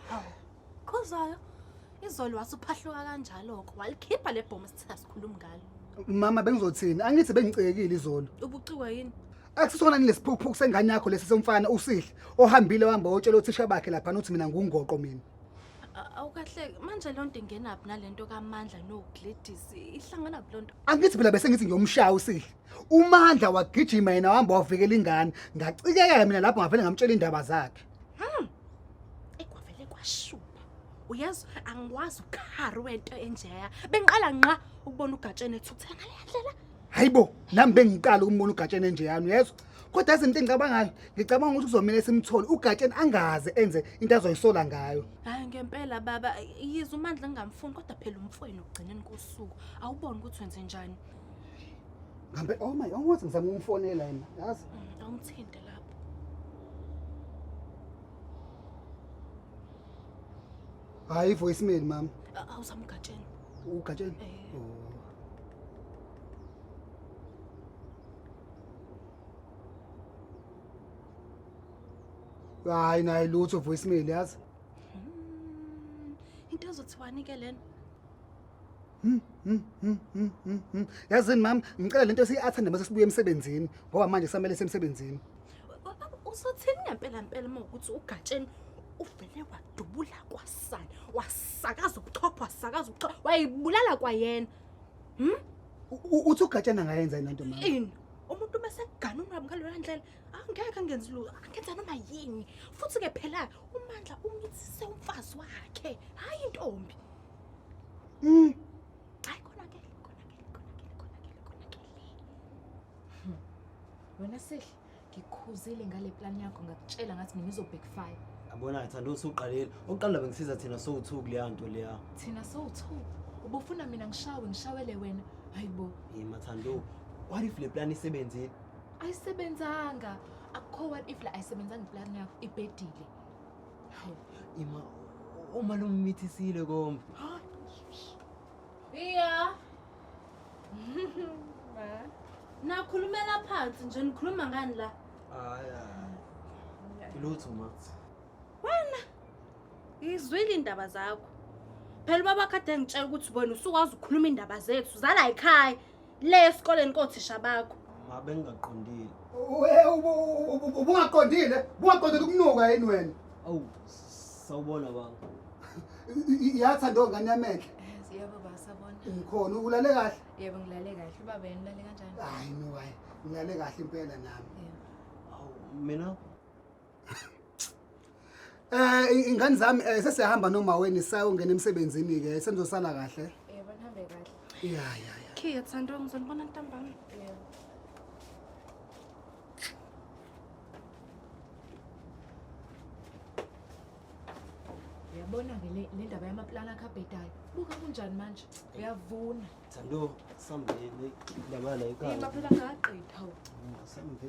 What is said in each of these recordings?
Hawu, Khuzwayo, izolo wasuphahluka kanjalo-ko. Walikhipha le bhomu sithe asikhulumi ngalo. Mama bengizothini? Angithi bengicekile izolo. Ubuciwa yini? Akusisona ni lesiphukuphuku sengane yakho lesi somfana usihle ohambile wahamba wotshela othisha bakhe lapha nothi mina ngungoqo mina. A- Awukahle, manje loo nto ingenaphi nalento kamandla noGladys? Ihlangana phi loo nto? Angithi phela bese ngithi ngiyomshaya usihle. Umandla wagijima yena wahamba wavikela ingane. Ngacikeka mina lapho ngavele ngamtshela indaba zakhe. Hmm. Ekwavele kwashuba. Uyazi angikwazi ukhari wento enjeya. Bengiqala nqa ukubona ugatsheni ethuthela ngale ndlela. Hayibo, nami bengiqala ukumbona ugatsheni enjeyani uyezwa? Kodwa izinto engicabangayo, ngicabanga ukuthi kuzomela simthole ugatsheni angaze enze into azoyisola ngayo. Hayi ngempela baba, yize uMandla ngingamfuni kodwa phela umfweni ugcineni kosuku. Awuboni ukuthi wenze njani? Ngambe oh my, awungathi ngizama ukumfonela yena, yazi? Mm, Awumthinte lapho. Hayi voicemail mama. A- Awuzamgatsheni. Ugatsheni. Eh. Oh. Hayi naye lutho voicemail yazi? Mm, Into ezothiwani ke lena? Hmm, hmm, hmm, hmm, hmm, hmm. yazini mama ngicela lento siyi-athende mase sibuye emsebenzini ngoba manje samele semsebenzini uzothini ngempela mpela uma ukuthi ugatsheni uvele wadubula kwasani wasakaza ubuchopho wasakaza ubuchopho wayibulala kwayena hmm? U- u- uthi ugatshana angayenza yini lento mama ini umuntu uma sekugana unwabi ngaleyo ndlela angeke angenzi lutho angenza noma yini futhi-ke phela umandla umithise umfazi wakhe hhayi intombi Mm. Hayi konakele, konakele, konakele, konakele, konakele. Hmm. Wena Sihle, ngikhuzile ngale plan yakho ngakutshela ngathi mina izobhekfire. Yabona thando usuqalile. Oqala bengisiza thina sowu2 kuleya nto leya. Thina sowu2. Ubufuna mina ngishawe ngishawele wena. Hayibo. Yima thando. What if le plan isebenzile? Ayisebenzanga. Akukho what if la ayisebenzanga iplan yakho ibhedile. Ima uma lommithisile komba. Iya. Nakhulumela phansi nje nikhuluma ngani la? Hayi. Lutho ma. Wena. Izwile indaba zakho. Phela baba kade ngitshela ukuthi wena usukwazi ukukhuluma indaba zethu zala ekhaya. Le esikoleni kothisha bakho. Ma bengingaqondile. We- ubu- ubu- ubu- Ubungaqondile, ubungaqondile ukunuka yini wena? Awu sawubona baba. I- i- Yatha ndo ngane yamehle. Yebo baba sabona. Ngikhona ulale kahle. Yebo ngilale kahle. Ubaba yena ulale kanjani? Hayi no hayi. Ngilale kahle impela nami. Awu mina Eh ingane zami eh, sesihamba nomaweni sayongena emsebenzini ke senzosala kahle. Eh banihambe kahle. Ya ya ya. Khe yathanda ngizonibona ntambama. Yabona ke le le ndaba yamaplana akhe abhedayo. Buka kunjani manje? Uyavuna. Thando sambeni ndabana Hey ekhaya. maphela ngaqedha. Sambe.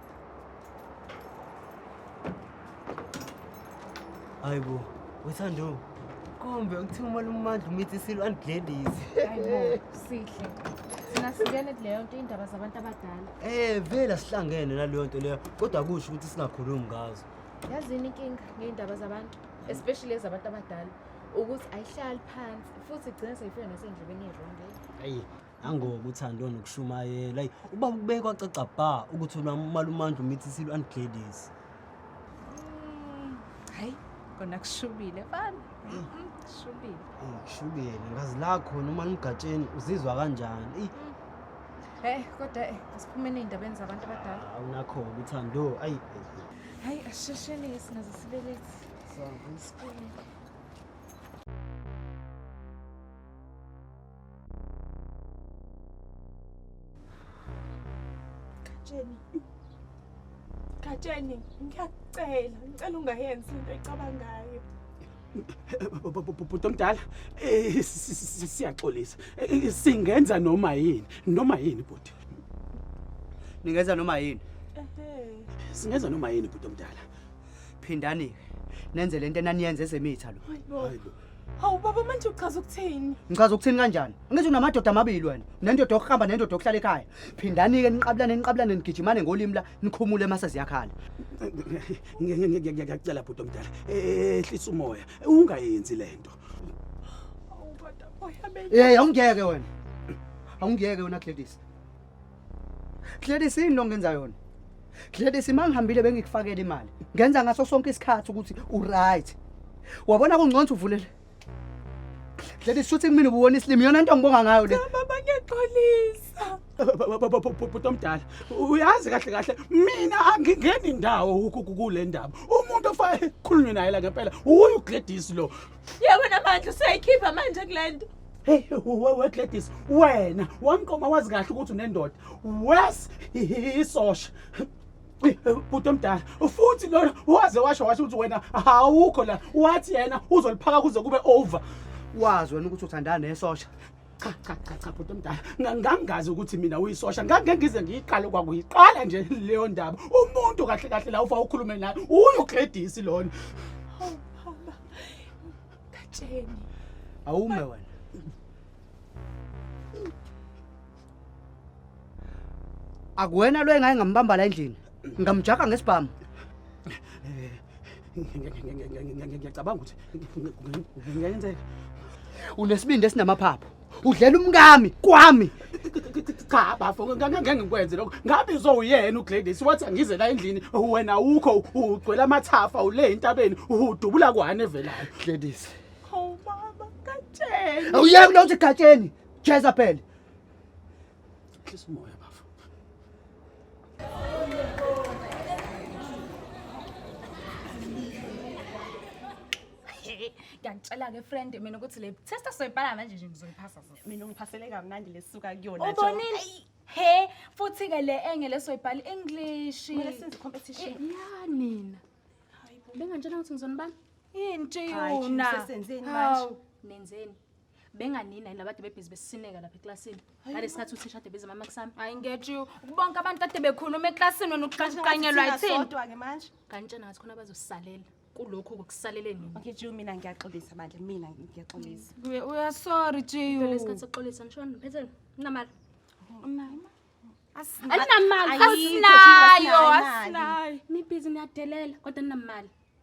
hayi bo wethando kumbe ukuthiwa umali umandla umithi isilo andigledisi hayi bo sihle thina singene kuleyo nto iy'ndaba zabantu abadala um vele asihlangene naleyo nto leyo kodwa kusho ukuthi singakhulumi ngazo yazini inkinga ngey'ndaba zabantu especially ezabantu abadala ukuthi ayihlali phansi futhi igcina seyifika nasendlebeni eronge ayi nangoba uthando nokushumayela ayi uba kubeke kwacaca bha ukuthi unamalumandla umithisile u-anigladys hayi kona kushubile fana kushubile shubile ngazi la khona uma nimgatsheni uzizwa kanjani eyi heyi kodwa eh, asiphumeni ey'ndabeni zabantu abadala awunakho-ke uthando ayi hayi asishesheni-ke singaze sibelethi Sawubona. Gatsheni. Gatsheni, ngiyakucela, ngicela ungayenzi into ecabangayo. bhuti omdala eh, siyaxolisa eh, singenza noma yini noma yini bhuti ningenza noma yini singenza noma yini bhuti omdala phindani nenze lento enaniyenza ezemitha lo Hawu baba manje uchaza ukuthini? Ngichaza ukuthini kanjani? Angithi unamadoda amabili wena. Nendoda yokuhamba nendoda yokuhlala ekhaya. Phindani ke niqabulane niqabulane nigijimane ngolimi la nikhumule mase ziyakhala. Ngiyacela bhuti omdala. Ehlisa umoya. Ungayenzi lento. Hawu baba boya beke. Eh awungiyeke wena. Awungiyeke wena Gladys. Gladys yini lo ngenza yona? Gladys mangihambile bengikufakela imali. Ngenza ngaso sonke isikhathi ukuthi u right. Wabona kungconza uvulele. Gladys shuthi kumina ubuwona isilimi yona into ngibonga ngayo le. Cha baba ngiyaxolisa. Bhuti omdala uyazi kahle kahle mina angingeni indawo kule ndaba. Umuntu ofanele khulunywe naye la ngempela uyu Gladys lo. Yebo namandla useyikhipha manje kulento. Hey we Gladys wena wamqoma wazi kahle ukuthi unendoda. Wes isosha. Bhuti omdala futhi lona waze washo washo ukuthi wena awukho la wathi yena uzoliphaka kuze kube over. Wazi wena ukuthi uthandana nesosha. cha cha cha cha bhuti omdala ngangazi ukuthi mina uyisosha ngangeke ngize ngiyiqale kwakuyiqala nje leyo ndaba umuntu kahle kahle la ufa ukhulume naye uyogledisi lona hawu baba gatsheni awume wena akuwena lo engayengambamba la endlini ngamjaka ngesibhamu ngiyacabanga ukuthi ngiyenzeka unesibindi esinamaphaphu udlela umkami kwami cha bafo ngeke ngikwenze lokho ngabe izowuyena uGladys wathi angize la endlini wena ukho ugcwele amathafa ule entabeni udubula kwani evelayo Gladys oh mama katsheni awuyeke lo uthi katsheni Jezebel Hlisa umoya bafo. ngiyakutshela-ke friend mina ukuthi le testa soyibhala manje nje ngizoyiphasa sisi mina ungiphasele kamnandi lesuka kuyona nje. ubonile he futhi-ke le enge lesoyibhala english Kumele senze competition. ya nina bengantshela ukuthi ngizonibani yini Hayi, nje ntshiyuna sesenzeni manje? Hawu, nenzeni benganina yini labade bebhizi besisineka lapha eklasini ngale sikhathi uthisha ade bezama makusami hayi nget you bonke abantu kade bekhuluma eklasini wena ukuqanyelwa yithini sodwa-ke manje kanti tshena ngathi khona bazosalela kulokhu kokusalele nini okay jiu mina ngiyaxolisa bandla mina ngiyaxolisa uyasorry jiu ngale sikhathi sokuxolisa ngishona phetheni unamali unayo asinamali asinayo asinayo nibhizi niyadelela kodwa ninamali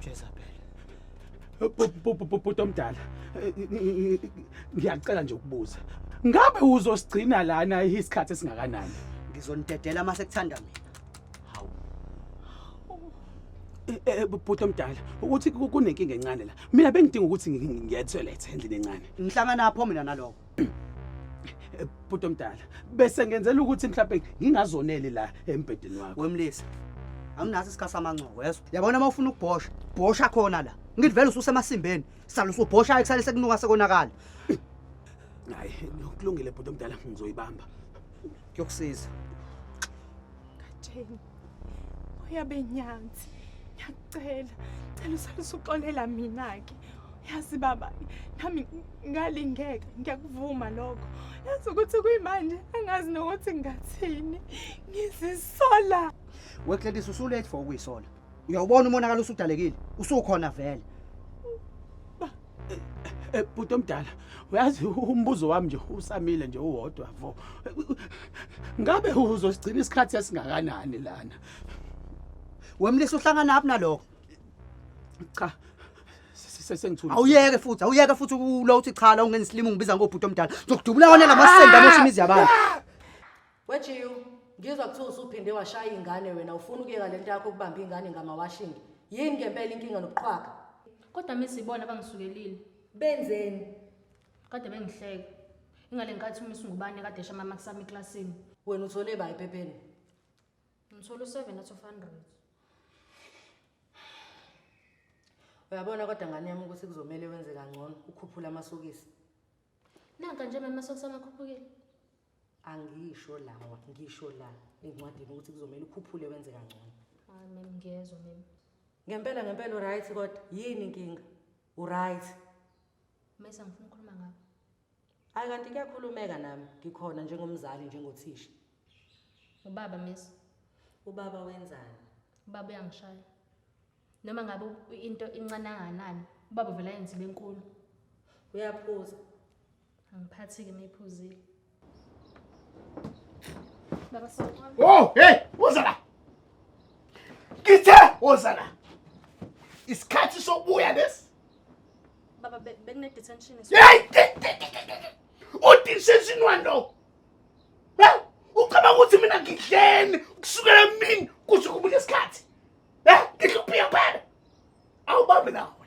Jezabel. Bhuti omdala. Ngiyacela nje ukubuza. Ngabe uzosigcina lana isikhathi esingakanani? Ngizonidedela uma sekuthanda mina. Eh, eh, bhuti omdala ukuthi kunenkinga encane la mina bengidinga ukuthi ngiye toilet endlini encane ngihlangana pho mina nalowo bhuti omdala bese ngenzela ukuthi mhlawumbe ngingazoneli la embhedeni wakho wemlisa anginaso isikhathi samancobo yeso yabona uma ufuna ukubhosha bhosha khona la ngithi vele ususemasimbeni sala usubhosha ekusale sekunuka sekonakala hayi kulungile bhuti omdala ngizoyibamba kuyokusiza katheni uyabe nyanzi ngiyakucela cela usale usuxolela mina-ke yazi baba nami ngalingeka ngiyakuvuma lokho yazi ukuthi kuyimanje angazi nokuthi ngathini ngizisola wekledisa usulate for ukuyisola uyawubona umonakalo usudalekile usukhona vele Eh, bhuti omdala uyazi umbuzo wami nje usamile nje uwodwa vo ngabe uzosigcina isikhathi esingakanani lana wemlisa uhlangana aphi nalokho cha sengithule awuyeke futhi awuyeke futhi ukulo uthi cha la ungenza isilimu ngibiza ngobhuti omdala ngizokudubula wona lamasende amosha imizi yabantu wejiyu ngizwa kuthiwa usuphinde washaya ingane wena ufuna ukuyeka lento yakho ukubamba ingane ngamawashingi yini ngempela inkinga nokuqhwaga Kodwa misi ibona abangisukelile. Benzeni? Kade bengihleka. Ingale ngikathi umisi ngubani kade esha mama kusami eklasini. Wena uthole ba ephepheni? Ngithola u-seven out of hundred. Uyabona kodwa ngane yami ukuthi kuzomele wenze kangcono ukhuphula amasokisi. Nanka nje mama sokusamakhuphukile. angisho lawa ngisho la encwadini ukuthi kuzomele ukhuphule wenze kangcono hayi mem ngiyezwa mem ngempela ngempela uright kodwa yini inkinga uright mesa ngifuna ukukhuluma ngakho hayi kanti kuyakhulumeka nami ngikhona njengomzali njengothisha ubaba mesa ubaba wenzani ubaba uyangishaya noma ngabe into incane anganani ubaba vele ayenzile enkulu uyaphuza Angiphathi-ke uma iphuzile. Baba sawubona. Oh, hey, woza la. Ngithe woza la. Isikhathi sokubuya lesi. Baba be- bekune detention is Hey, ti- ti- ti- ti- ti- ti. udisesini walo. Hey, ucabanga ukuthi mina ngidleni kusukela emini kuze kube lesikhathi. Hey, ngihluphia phela. Awubambi nawe.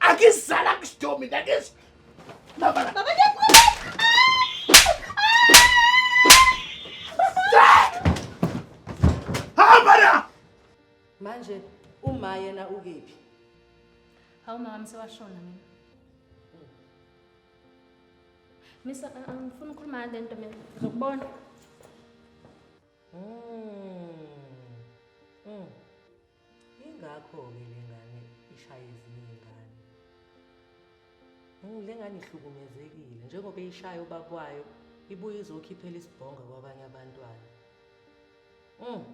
Akizala kusdo mina akis. Baba baba ngiyakuba. Habara. Manje uma yena ukephi? Hawu mama sewashona mina. Misa angifuni ukukhuluma ngale nto mina. Ngizokubona. Mm. Mm. Ingakho ke lengane ishaya ezinye izingane. Lengane ihlukumezekile njengoba ishaya ubabwayo ibuye izokhiphela isibhonga kwabanye abantwana. Mm.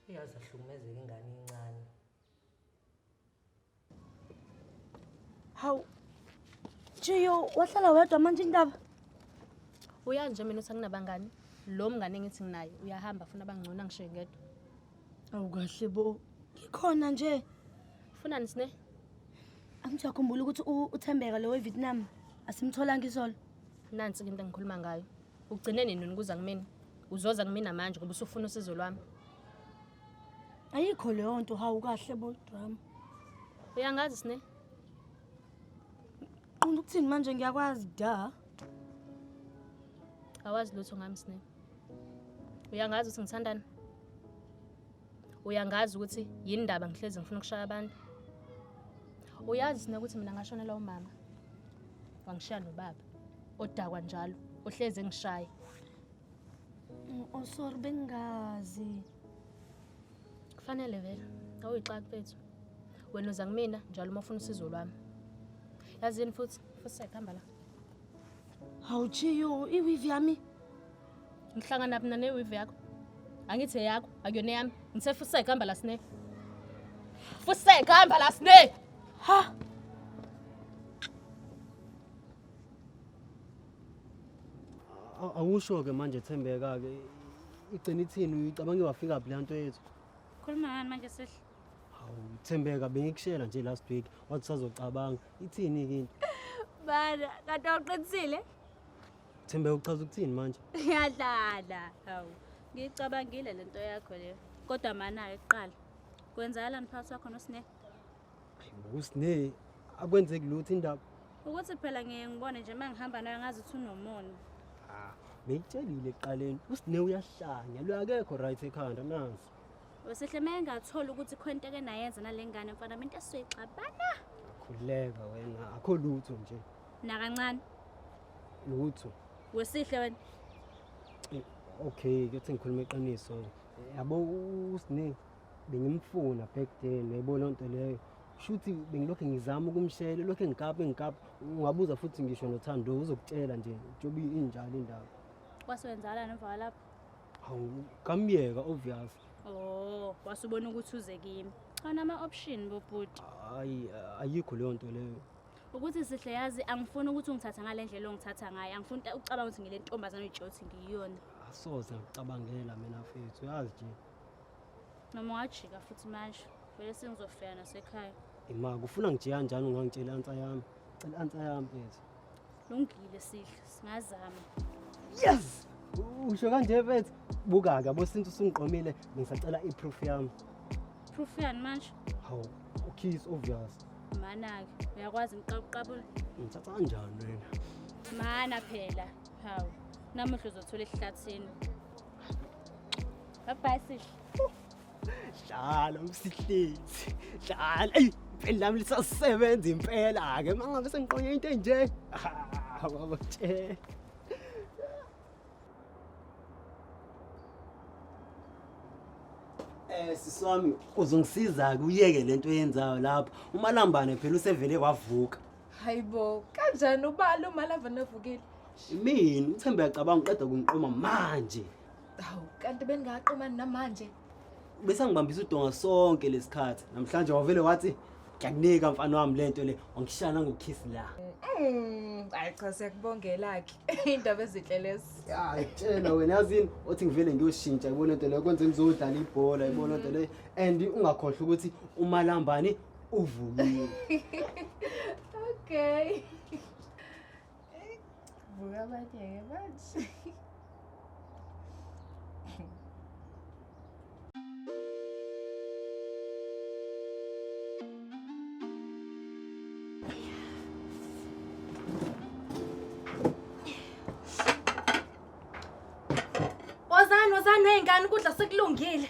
Iyazi ahlukumezeka ingane incane. Hawu. Jiyo, wahlala wedwa manje indaba. Uyazi nje mina usanginabangani. Lo mngane engithi nginaye uyahamba afuna abangcono angishiye ngedwa. Awu kahle bo. Ngikhona nje. Funa nisine? Angijahukhumbula ukuthi u- uThembeka lo weVietnam asimtholanga izolo. Nansi ke into engikhuluma ngayo. Ugcine nini ukuza kumina? Uzoza kumina manje ngoba usufuna usizo lwami. ayikho leyo nto hawu kahle bodwami uyangazi sine qonda ukuthini manje ngiyakwazi da awazi lutho ngami sine uyangazi ukuthi ngithandani uyangazi ukuthi yini ndaba ngihlezi ngifuna ukushaya abantu uyazi sine ukuthi mina ngashonela umama wangishiya nobaba odakwa njalo ohlezi engishaya Mm, oh sorry bengazi. Kufanele vele awuyixaka mfethu. Wena uza kumina njalo uma ufuna usizo lwami. Yazini futhi futhi sekuhamba la. Awuchiyo iwivi yami. Ngihlangana mina newivi yakho. Angithi eyakho akuyona yami. Ngithe futhi sekuhamba la sine. Futhi sekuhamba la sine. Ha. awusho-ke manje thembeka-ke igcina ithini uyicabange wafika phi le nto yethu khuluma ngani manje sihle hawu thembeka bengikushela nje last week wathi sazocabanga ithini-ke into bana kanti awuqinisile thembeka uchaza ukuthini manje ngiyadlala hawu ngiyicabangile le nto yakho leyo kodwa mana-ke kuqala kwenzakalani phakathi wakho nosine Usne akwenzeki lutho indaba. Ukuthi phela ngeke ngibone nje mangihamba nayo ngazi ukuthi unomona. Ah, ngiyitshelile eqaleni usne uyahlanya lo akekho right ekhanda nansi. Wesihle mengathola ukuthi khonto ke nayenza nalengane mfana into esoyixabana. Khuleka wena akho lutho nje. Nakancane. Lutho. Wesihle wena. Eh, okay, kuthi ngikhuluma iqiniso. Yabo usne bengimfuna back then uyayibona onto leyo shuthi bengilokhu ngizama ukumshela lokhu engikapa engikapa ungabuza futhi ngisho nothando uzokutshela nje njengoba injalo indaba waswenzala nemva kwalapho hawu kamyeka obvious oh wasubona ukuthi uze kimi anama-option bobhuti hayi ayikho leyo nto leyo ukuthi sihle yazi angifuni ukuthi ungithatha ngale ndlela ongithatha ngayo angifuni ucabanga ukuthi ngile ntombazane ujothi ngiyiyona asoze ngicabangela mina fethu yazi nje Noma wajika futhi manje vele sengizofika nasekhaya. Ima kufuna ngijika kanjani ungangitshela ansa yami. Cela ansa yami mfethu. Lungile sihle singazama. Yes! Usho kanje mfethu. Buka ke bosintu sungiqomile ngisacela iproof yami. Proof yani manje? Hawu, ukiss obvious. Mana ke uyakwazi ngiqabuqabula. Ngithatha kanjani wena? Mana phela. Hawu. Namuhla uzothola esihlathini. Bye sihle. Dlala usihlezi. Dlala. Ey, impela lami lisasebenza impela ke mangabe sengiqonye into enje. Ah, baba tshela. Eh siswami uzongisiza kuyeke lento yenzayo lapha. Umalambane phela usevele wavuka. Hayibo, kanjani ubalo malava navukile? Imini uThemba yacabanga uqeda kungiqoma manje. Hawu, kanti bengaqomani namanje. Bese ngibambisa udonga sonke lesikhathi. Namhlanje wavele wathi ngiyakunika mfana wami lento le, wangishaya nangokiss la. Mm, hayi cha siyakubongela ke. Indaba ezinhle lezi. Hayi tshela wena yazini othi ngivele ngiyoshintsha yibona into leyo kwenze ngizodlala ibhola yibona into leyo and ungakhohlwa ukuthi umalambani uvukile okay vuka abanye-ke manje Wozani, wozani ney'ngane ukudla sekulungile.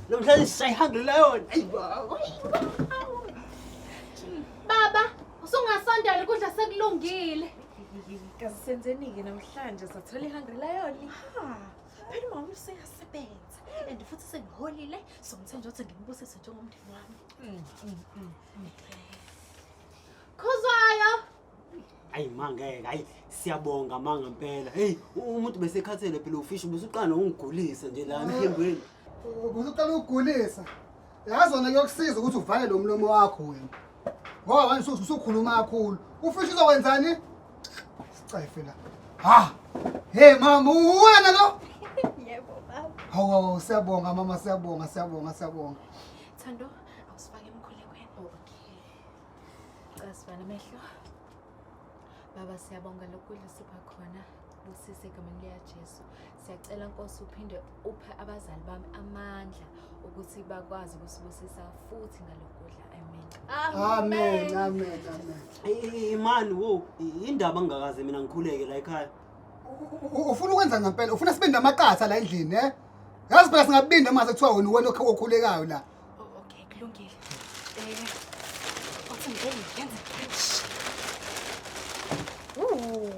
Namhlanje sisayihambile leyona. Ayi baba. Baba, usungasondela ukudla sekulungile. Kazi senzeni-ke namhlanje sathola ihungry lion. Ha. Phela mama useyasebenza and futhi sengiholile so ngithe nje ukuthi ngimbusise njengomndeni wami. Khuzwayo. Ayi mangeke, ayi siyabonga manga impela. Hey, umuntu besekhathele phela ufish ubusuqana ungigulisa nje la emphembweni. Ubusuqala ukugulisa. Yazi wena kuyokusiza ukuthi uvale lo mlomo wakho wena. Ngoba wena usuthi usukhuluma kakhulu. Ufish uzokwenzani? Sicefe la. Ha. Hey mama, uwena lo. Yebo baba. Hawu hawu, siyabonga mama, siyabonga, siyabonga, siyabonga. Thando, awusifake emkhulekweni. Okay. Cela sivala amehlo. Baba siyabonga lokudla usipha khona usise egameni likaJesu. Siyacela Nkosi uphinde uphe abazali bami amandla ukuthi bakwazi ukusibusisa futhi ngalokudla. Amen. Amen. Amen. Amen. Imani wo indaba ngingakaze mina ngikhuleke la ekhaya. Ufuna ukwenza ngempela, ufuna sibe namaqatha la endlini, eh? Yazi phela singabinda mase kuthiwa wena uwena okhulekayo la. Oh, okay, kulungile. Eh, wathi ngeke ngiyenze kanje. Ooh,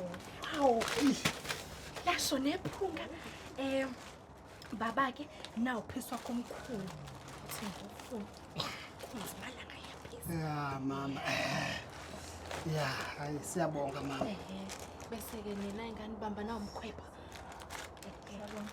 wow. Lasho nephunga. Eh, baba ke nawu phiswa komkhulu. Uthi ngifuna. Kunzima la ngaya phisa. Ya mama. eh, Ya, hayi siyabonga mama. Ehe. Bese ke nina ingane bamba nawu mkhwepha. Siyabonga.